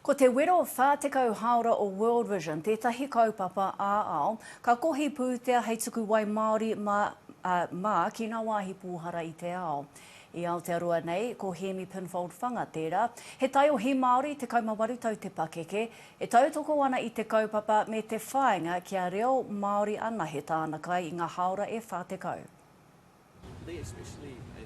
Ko te wero 40 hāora o World Vision tētahi kaupapa ā-ao ka kohi pūtea hei tuku wai māori mā, ā, mā ki ngā wāhi pōhara i te ao. I Aotearoa nei, ko Hēmi Pinfold Whanga tērā. He taiohi Māori 18 tau te pakeke, e tautoko ana i te kaupapa me te whāinga kia reo Māori anahe tāna kai i ngā hāora e 40.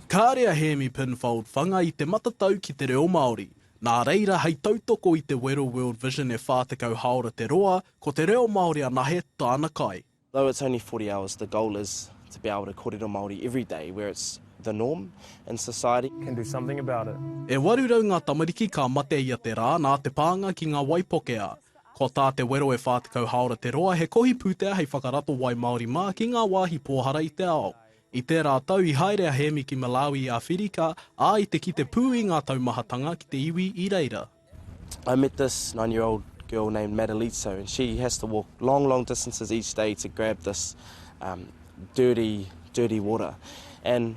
Kāre a Hēmi Penfold whanga i te matatau ki te reo Māori, nā reira hei tautoko i te wero World Vision e 40 hāora te roa, ko te reo Māori anahe tāna kai. Though it's only forty hours, the goal is to be able to korero Māori every day where it's the norm in society. Can do something about it. E 800 ngā tamariki ka mate ia te rā nā te pānga ki ngā waipoke a. Ko tā te wero e 40 haora te roa he kohi pūtea hei whakarato wai māori mā ki ngā wāhi pōhara i te ao. I tērā tau i haere a Hēmi ki Malawi i Āwhirika, ā, i te kite pū i ngā taumahatanga ki te iwi i reira. I met this nine year old girl named Madalitso and she has to walk long long distances each day to grab this dirty dirty water and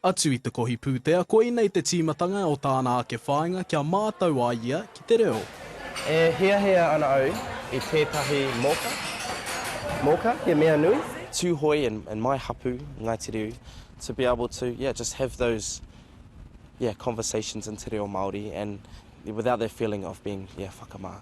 Atu i te kohi pūtea, koinei te tīmatanga o tāna ake whāinga kia mātau a ia ki te reo. E hiahia ana au i tētahi moka, moka, he mea nui. Tūhoe and and my hapu, Ngāi Te Riu, to be able to, yeah, just have those, yeah, conversations in te reo Māori and without that feeling of being, yeah, whakamā.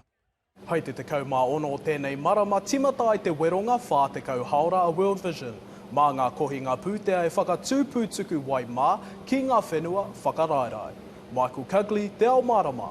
Hei te 16 o tēnei marama timata ai te weronga 40 haora a World Vision mā ngā kohinga pūtea e whakatū pū tuku wai mā ki ngā whenua whakaraerae. Michael Cugley, Te Ao Mārama.